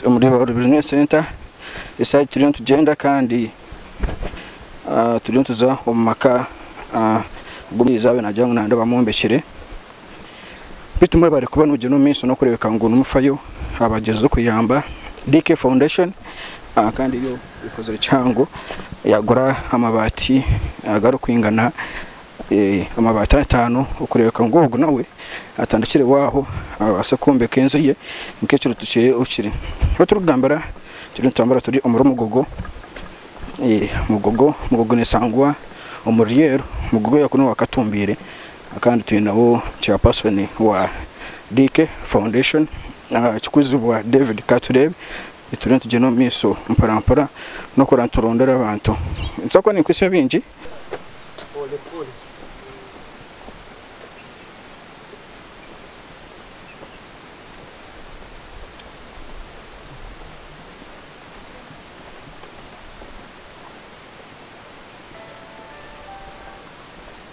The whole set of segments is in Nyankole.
Omuri Oru Bizineesi Senta esaha egi turiyo nitugyenda kandi turiyo nituza omu maka agu Omuriisa yaabaire naagira ngu nareeba omwombekire Beitu mwebare kuba nogyenda omu maiso nokurebeka ngu nimufayo abagyezize okuyamba DK Foundation kandi yo ekozire kihango yagura amabaati agarikwingana amabaati ataano okurebeka ngu ogu nawe atandikireho aho abaase kwombeka enju ye nk'ekiruutu kye okiri. Ahu turikugambira turiyo nitutambura turi omuri Mugogo, Mugogo neshangwa omuri Lweru, Mugogo yakuunu owa Katumbiire. Kandi twineho chairperson wa DK foundation Kikuzibwa David katureebe turiyo nitugyenda omu maisho mpora mpora nokurora niturondora abantu ninza kuba ninkwitsya ebingi.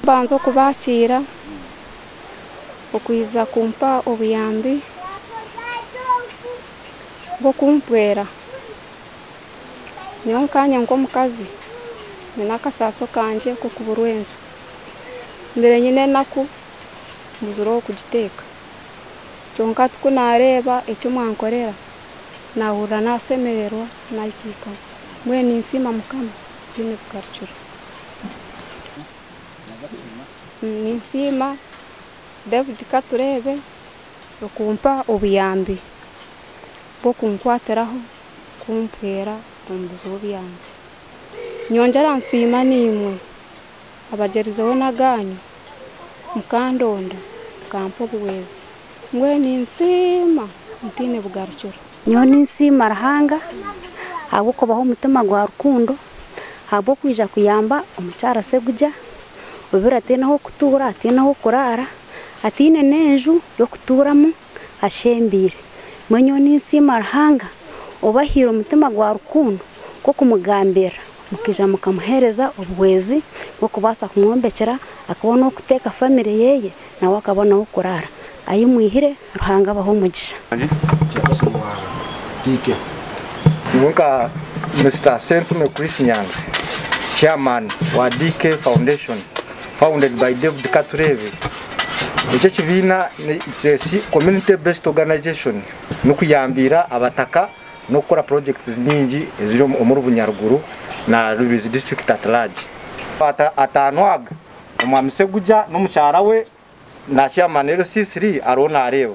Kubanza okubaakiira, okwija kumpa obuyambi bw'okumpwera. Nyowe nkaanye nk'omukazi nyine akasaatso kangye k'okuburwa enju. Mbaire nyine enaku mbuzire ow'okugiteeka. Kwonka ku naareeba eki mwankorera. nahurira nasemererwa naikaikamu mbwenu ninsiima mukama ntaine kugarukira ninsiima David Katureebe okumpa obuyambi bwokunkwatiraho kumpweera omubizibu byangye nyongyera nsiima naimwe abagyerizeho n'agaanyu, mukandonda, mukampa obuhwezi, mbwenu ninsiima ntaine bugarukiro. Nyowe ninsiima Ruhanga ahabw'okubaha omutima gwa rukundo, ahabw'okwija kuyamba omukyara Segugya obiire ataine ah'okutuura, ataine ah'okuraara, ataine n'enju y'okutuuramu. ashembeire. Mbwenu nyowe ninsiima Ruhanga obahaire omutima gwa rukundo gw'okumugambirira mukaija mukamuheereza obuhwezi bw'okubaasa kumwombekyera akabona ow'okuteeka famire yeeye nawe akabona ah'okuraara. Ahi mwihire Ruhanga abahe omugisha. Nyowe nka Mister Ssentume Chris Nyanzi, Chairman wa DK Foundation, founded by David Katureebe. Eki ekibiina its a community based organization nikuyambiira abataka n'okukora projects nyingi eziri omuri Bunyaruguru na Rubirizi district at large. Amabata ataano aga, Omwami Segugya n'omukyara we na Chairman LC3 ariho nareeba.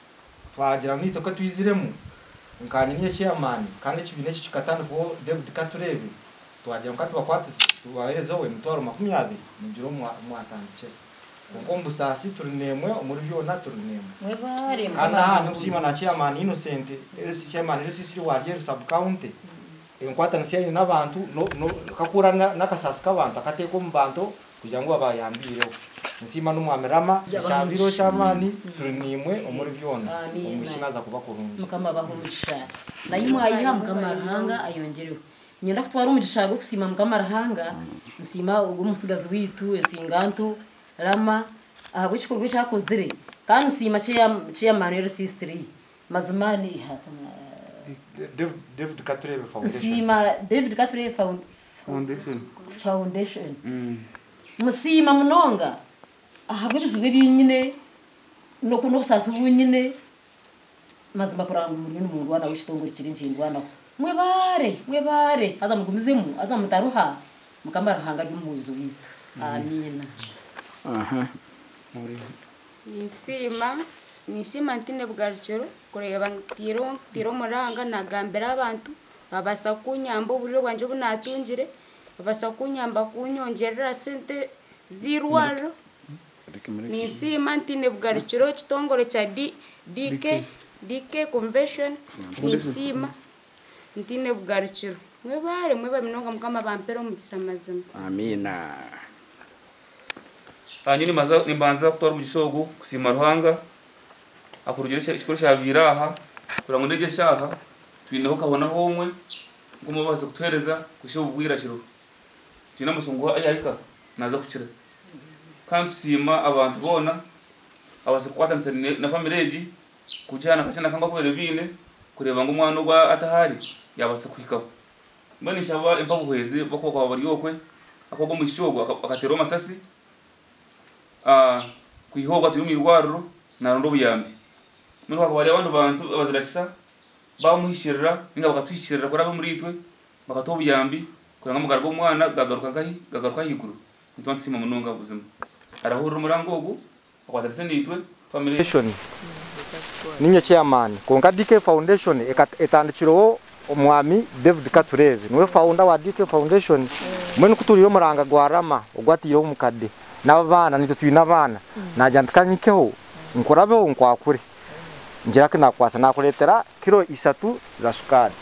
Twagira ngu itwe katwiziremu nkaanyina eky'amaani kandi ekibiina eki kikatandikwaho David Katureebe, twagira ngu katubakwatise tubaheereze we emitwaro makumi abiri mugire omu mwatandikira. Kwonka omu busaasi turi n'emwe, omuri byona turi n'emwe. Kandi n'aha ni okusiima na Chairman Innocent Elsie, Chairman Elsie Siriwalyeru Sub County, enkwatanisa ei aine n'abantu, ka kuhurira n'akasaasi k'abantu akateeka omu bantu Kugira ngu abaayambiireho. Nsiima n'Omwami Rama. Ekyabaire eky'amaani, turi naimwe omuri byona. Omwishiki naaza kuba kurungi. Mukama abahe omugisha. Nayi mwayiha mukama Ruhanga ayongyerehwe. Ninyenda kutwara omugisha gw'okusiima mukama Ruhanga, nsiima ogw'omutsigazi waitu Ensinganto Rama ahabw'ekikorwa eki akozire kandi nsiima kyeyamanire Risiisitiriye. Mazima ni ihatu David Katureebe Foundation. Nsiima David Katureebe Foundation. Musiima munonga ahabw'ebizibu ebi nyine n'obusaasi obu nyine. Mazima kurora ngu muriyo nimundwanaho ekitongore kiri nikindwanaho. Mwebaare, mwebaare haza mugumizemu haza mutaruha. Mukama Ruhanga ari omuhwezi waitu. Amiina. Ninsiima, ninsiima ntiine bugarukiro kureeba ngu ntaire omuranga naagambira abantu baabaasa kunyamba oburyo bwangye obu naatungire, baabaasa kunyamba kunyongyerera sente z'eirwariro. Ninsiima ntiine bugarukiro ekitongore kya DK Convention ninkisiima ntiine bugarukiro. Mwebaare, mwebaare munonga Mukama abampere omukisa mazima. Amiina. Aha nyowe nimbanza nimbanza kutwara omugisha ogu kusiima Ruhanga ahakurugire ekyo ekikuru ekyabaire aha kureba ngu n'egi eshaaha twineho kabona h'omwe nk'omu babaasa kutuheereza kuhisha obu bwirakiro. Twine amasiko ngu ayi ahika naaza kukira. Kandi tusiima abantu boona ababaasa kukwatanisa ne na famire egi kugiha na kakye na kamu aku babaire baine kureba ngu omwana ogu atahaari yaabaasa kuhikaho. Mbwenu ishe abu empa buhwezi bw'oku bakaba bari okwe, ahakuba ogwo mwishiki ogwo akateerwa amasasi kwiha obu atwiire omu irwariro naronda obuyambi. Mbwenu hakaba hariyo abandi bantu abazira kisa bamuhikirira ninga bakatuhikirira kuri abe omuriitwe bakatuha obuyambi kugira ngu amagara g'omwana gagaruka nkahi? Gagaruka ahaiguru. Nituba nitusiima munonga buzima. Arahurira omurango ogu Akwatanise naitwe, family. Foundation niinyo chairman kwonka DK Foundation etandikirweho Omwami David Katureebe niwe founder wa DK Foundation mbwenu kuturiire omuranga gwa Rama ogu ataireho omukade n'abaana naitwe twine abaana naagira nti ka nyikeho nkurabeho nkwakure. Ngira ki naakukwasa? Naakureetera kiro ishatu za shukaari?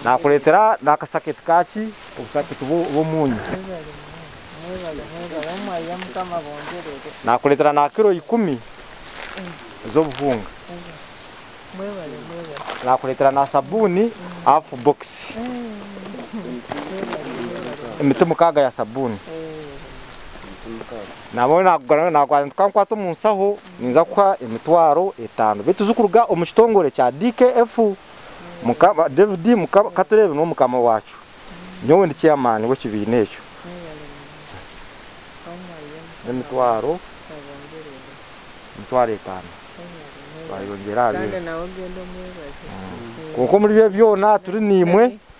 Naakureetera n'akasaketi ka ki? Obusaketi bw'omuunyu? Naakureetera na kiro ikumi z'obuhunga? Naakureetera na sabuuni hafu bbokisi? Emiti mukaaga ya sabuuni? Nabwo naakugambira ngu naakwata nti kankwate omu nshaho ninza kukuha emitwaro etaano beitu zirikuruga omu kitongore kya DKF. Mukama, David, Mukama, ka tureebe niwe mukama waacu. Nyowe ndi chairman w'ekibiina ekyo. N'emitwaro, emitwaro etaano twayongyera aha bindi. Kwonka omuri byo byona turi naimwe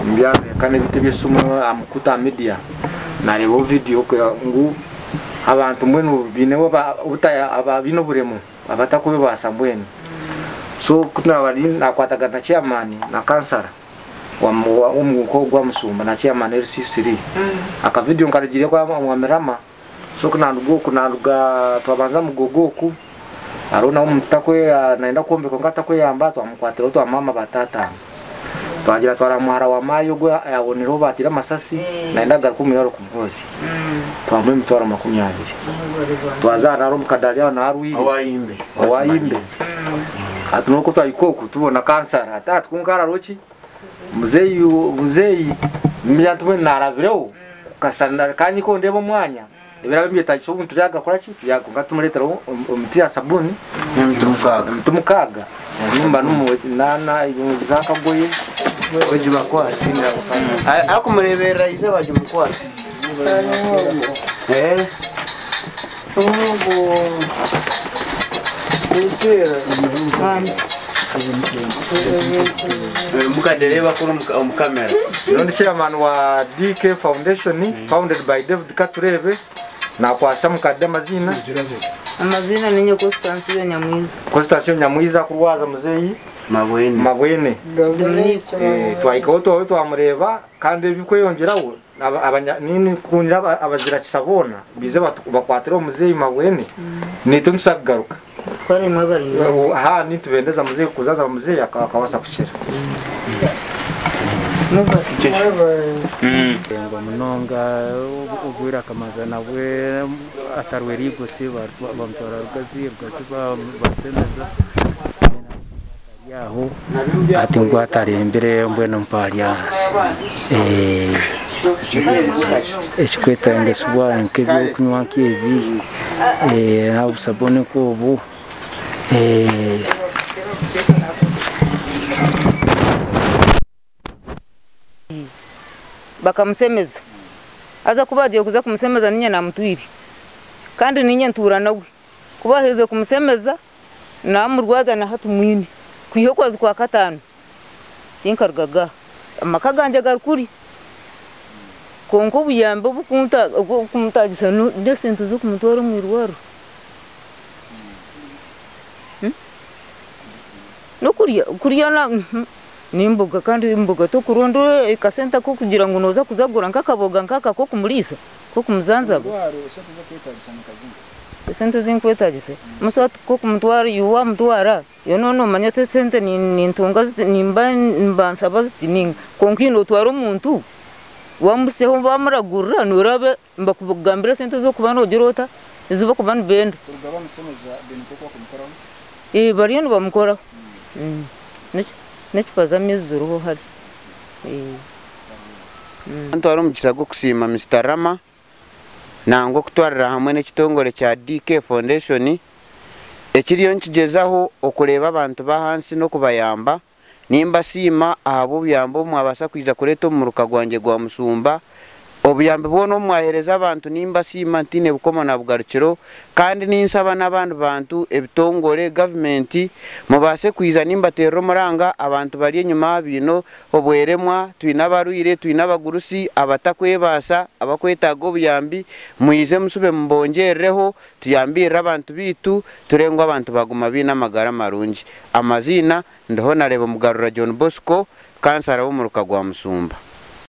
Omu by'amerika n'ebiti eby'esimu aha mukutu aha midiya naareebaho vidiyo kureba ngu abantu mbwenu baine abaine oburemu abatarikwebaasa mbwenu. So ku naabire naakwatagana na chairman na kansara w'omuka ogu aha musumba na chairman LC3, akavidiyo nkarugiireho aha Mirama So ku naaruga oku, naaruga twabanza Mugogo oku, hariho nawe omuntu takweyamba, naayenda kwombeka kwonka takweyamba, twamukwatireho twamwama ba taata abo. Twagira twara muhara wa maayi ogwo ayaabonireho baateire amasasi, naayenda kugaruka omu irwariro kumuhozya. Twamuha emitwaro makumi abiri. Twaza aha nari omu kadaari aho niho arwaire. Owa Imbe. Hati n'oku twahika oku, tubona kansara. Ati, Hati kwonka harariho ki? Muzeeyi muzeeyi nimanya nti mbwenu naarabireho kasita na- kandi nikwo ndeeba omwanya ebiraabe nibyetaagisa obuntu turyagakora ki turya- kwonka tumureetera o- o- omuti ya sabuuni Emiti mukaaga. emiti mukaaga nimba nimu naana za akagoye egibakwasi A- Arikumureeberera izooba rimukwatse. Eh. Nyowe ndi chairman wa DK foundation founded by David Katureebe nakwatsa mukade amaziina. Amaziina ninye Constansio Nyamwiza. Constansio Nyamwiza akurwaza muzeyi mabwene. Twahikaho twahurira twamureeba kandi ebikweyongyeraho Ninkundira abagira kisa boona baize bakwatira omu muzeeyi Mabwene naitwe nituza kugaruka. Nitubendeza muzeeyi kuza aza muzeeyi akabaasa kukira. Arengwa munonga obwire akamanza nabwe atarwera eigosi bamutwara Rugazi, Rugazi bamusemeza. Ari aho ati ngu atarembire mbwenu mpaari ahansi ekikwetangisibwa nk'ebyokunywa nk'ebi naha busabuni nk'obu. bakamusemeza haza ku bagiire kuza kumusemeza niinye naamutwire kandi niinye ntuura nawe. Ku baaherize kumusemeza naamurwaza na hati mwine kwiha okwezi kwa kataano tinkarugaga aha. Amaka gangye gari kuri kwonka obuyambi obu kumutaagisa n'esente z'okumutwara omu irwariro n'okurya n'emboga kandi emboga tokuronda akasente kokugira ngu noza kuza kugura nk'akaboga nk'aka kokumuriisa kokumuzanzaba esente ezinkwetagisa busa kokumutwara iwe wamutwara iwe noba nomanya oti esente nintunga ziti nimba nibansaba ziti ninga kwonka otwara omuntu wamuhisyaho wamuragurira noraba Nibakugambira sente ezi orikuba noogira ota, ezi barikuba nibenda. Kuruga bamushemeza then nk'oku bakumukoraho? Ee bariyo nibamukoraho. N'ecupa z'amaizi ziriho hare. Nitwara omugisha gw'okusiima Mister Rama nangwa okutwarira hamwe n'ekitongore kya DK Foundation ekiriyo nikigyezaho okureeba abantu b'ahansi n'okubayamba Nimbasiima ahabw'obuyambi obu mwabaasa kwija kureeta omu muruka gwangye gwa Musumba. Obuyambi bwona obu mwaheereza abantu nimbasiima ntiine bukomo na bugarukiro kandi ninsaba n'abandi bantu, ebitongore, gavumenti, mubaase kwija nimbateerera omuranga abantu bari enyima baine obweremwa, twine abarwaire, twine abagurusi, abatakwebaasa, abakwetaaga obuyambi, mwije musube mubongyerireho. Tuyambirire abantu baitu ture ngu abantu baguma baine amagara marungi. Amaziina, Ndihonareeba Mugarura John Bosco, Kansara w'omuruka gwa Musumba.